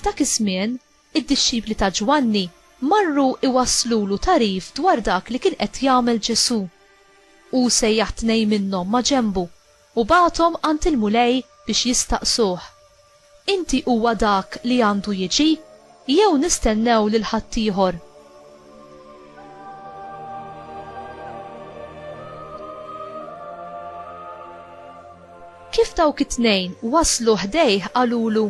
F'dak iż-żmien, id-dixxipli ta' Ġwanni marru iwasslulu tagħrif dwar dak li kien qed jagħmel Ġesù. Hu sejjaħ tnejn minnhom ma' ġenbu U bagħathom għand il-Mulej biex jistaqsuh, Inti huwa dak li għandu jiġi, jew nistennew lil ħaddieħor? Kif dawk it-tnejn waslu ħdejh qalulu,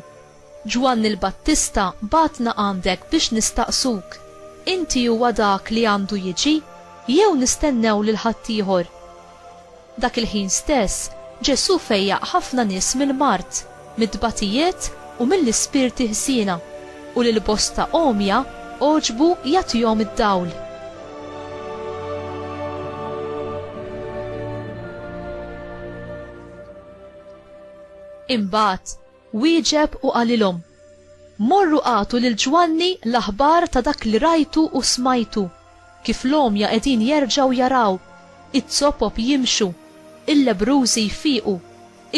Ġwanni l-Battista bagħatna għandek biex nistaqsuk, Inti huwa dak li għandu jiġi, jew nistennew lil ħaddieħor? Dak il-ħin stess, Ġesù fejjaq ħafna nies mill-mard, mit-tbatijiet u mill-ispirti ħżiena, u lil bosta għomja għoġbu jagħtihom id-dawl. Imbagħad, Wieġeb u qalilhom, Morru agħtu lil Ġwanni l-aħbar ta' dak li rajtu u smajtu, kif l-għomja qegħdin jerġgħu jaraw, iz-zopop jimxu, il-lebbrużi jfiqu,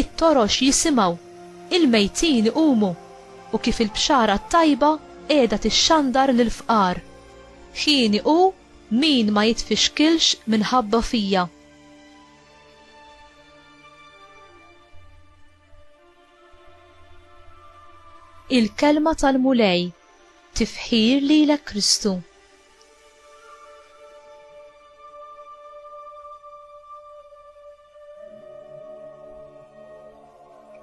it-torox jisimgħu, il-mejtin iqumu, u kif il-bxara t-tajba qiegħda tixxandar lill-fqar. Hieni hu min ma jitfixkilx minħabba fija. Il-Kelma tal-Mulej, Tifħir lilek Kristu.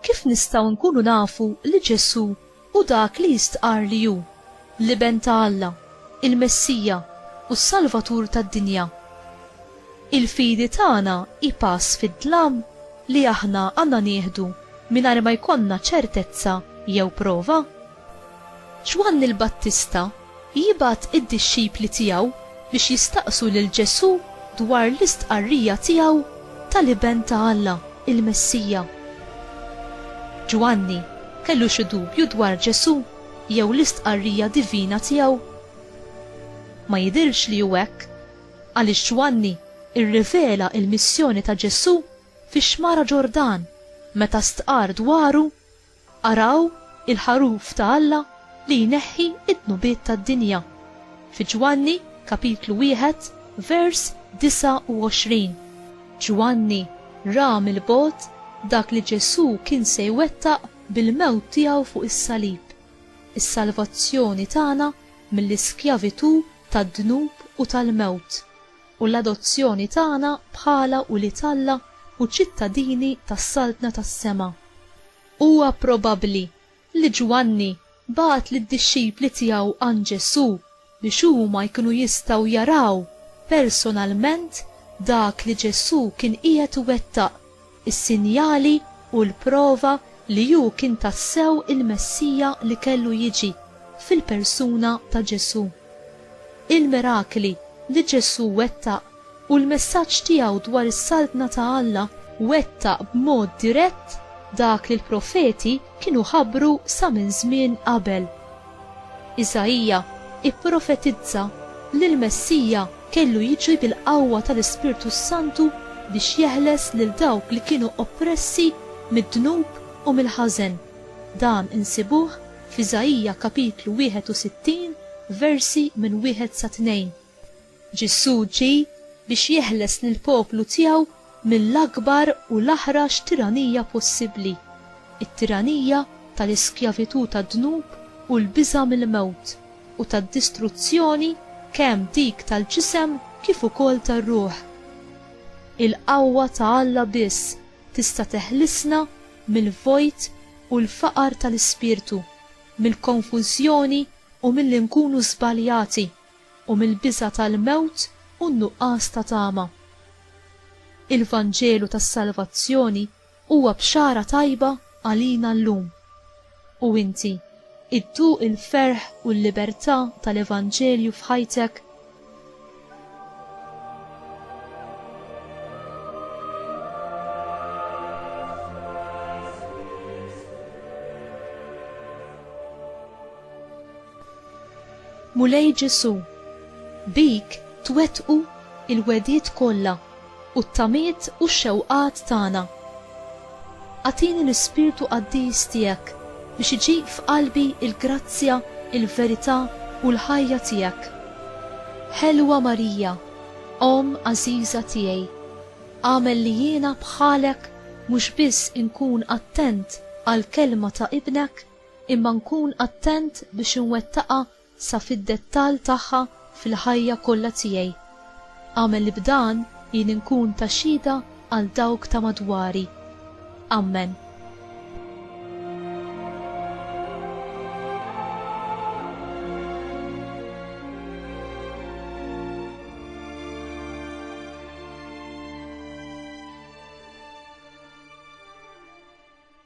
Kif nistgħu nkunu nafu li Ġesù u dak li jistqarr li hu, l-Iben ta' Alla, il-Messija, u s-Salvatur tad-dinja. Il-fidi tagħna hi pass fid-dlam li aħna għandna nieħdu mingħajr ma jkollna ċertezza jew prova? Ġwanni l-Battista Jibgħat id-dixxipli tiegħu biex jistaqsu lil Ġesù dwar l-istqarrija tiegħu tal-Iben ta' Alla, il-Messija. Ġwanni kellu xi dubju dwar Ġesù jew l-istqarrija divina tiegħu? Ma jidhirx li hu hekk, għaliex Ġwanni rrivela l-missjoni ta' Ġesù fix-Xmara Ġordan meta stqarr dwaru Araw il-Ħaruf ta' Alla li jneħħi d-dnubiet tad-dinja, fi Ġwanni kapitlu wieħed vers 29. Ġwanni ra mill-bogħod dak li Ġesù kien se jwettaq bil-mewt tiegħu fuq is-salib, is-salvazzjoni tagħna mill-iskjavitù tad-dnub u tal-mewt. u l-adozzjoni tagħna bħala ulied Alla u ċittadini tas-Saltna tas-sema. Huwa probabbli li Ġwanni bagħat lid-dixxipli tiegħu għand Ġesù biex huma jkunu jistgħu jaraw personalment dak li Ġesù kien qiegħed iwettaq is-sinjali u l-prova li hu kien tassew il-Messija li kellu jiġi fil-persuna ta' Ġesù. Il-mirakli li Ġesù wettaq u l-messaġġ tiegħu dwar is-Saltna ta' Alla wettaq b'mod dirett dak li l-profeti kienu ħabbru sa minn żmien qabel. Isaija pprofetizza li l-Messija kellu jiġi bil-qawwa tal-Ispirtu s-Santu biex jeħles lil dawk li kienu oppressi mid-dnub u mill-ħażen. Dan insibuh f'Isaija kapitlu 61 versi minn wieħed sa tnejn. Ġesù ġie biex jeħles lill-poplu tiegħu mill-akbar u l-aħrax tiranija possibbli, it-tiranija tal-iskjavitù tad-dnub u l-biża' mill-mewt u tad-distruzzjoni kemm dik tal-ġisem kif ukoll tar-ruħ. Il-qawwa ta' Alla biss tista' teħlisna mill-vojt u l-faqar tal-ispirtu, mill-konfużjoni u milli nkunu żbaljati. u mill-biża' tal-mewt u n-nuqqas ta' tama. Il-Vanġelu tas-salvazzjoni huwa bxara tajba għalina llum. U inti, idduq il-ferħ u l-libertà tal-Evanġelju f'ħajtek? Mulej Ġesù, bik twettqu l-wegħdiet kollha u t-tamiet u x-xewqat tagħna. Agħtini l-Ispirtu Qaddis tiegħek biex iġib f'qalbi l-grazzja, il-verità u l-ħajja tiegħek. Ħelwa Marija, Omm għażiża tiegħi, agħmel li jiena bħalek mhux biss inkun attent għall-kelma ta' Ibnek, imma nkun attent biex inwettaqha sa fid-dettall tagħha fil-ħajja kollha tiegħi. Agħmel li b'dan jien inkun ta' xhieda għal dawk ta' madwari. Ammen.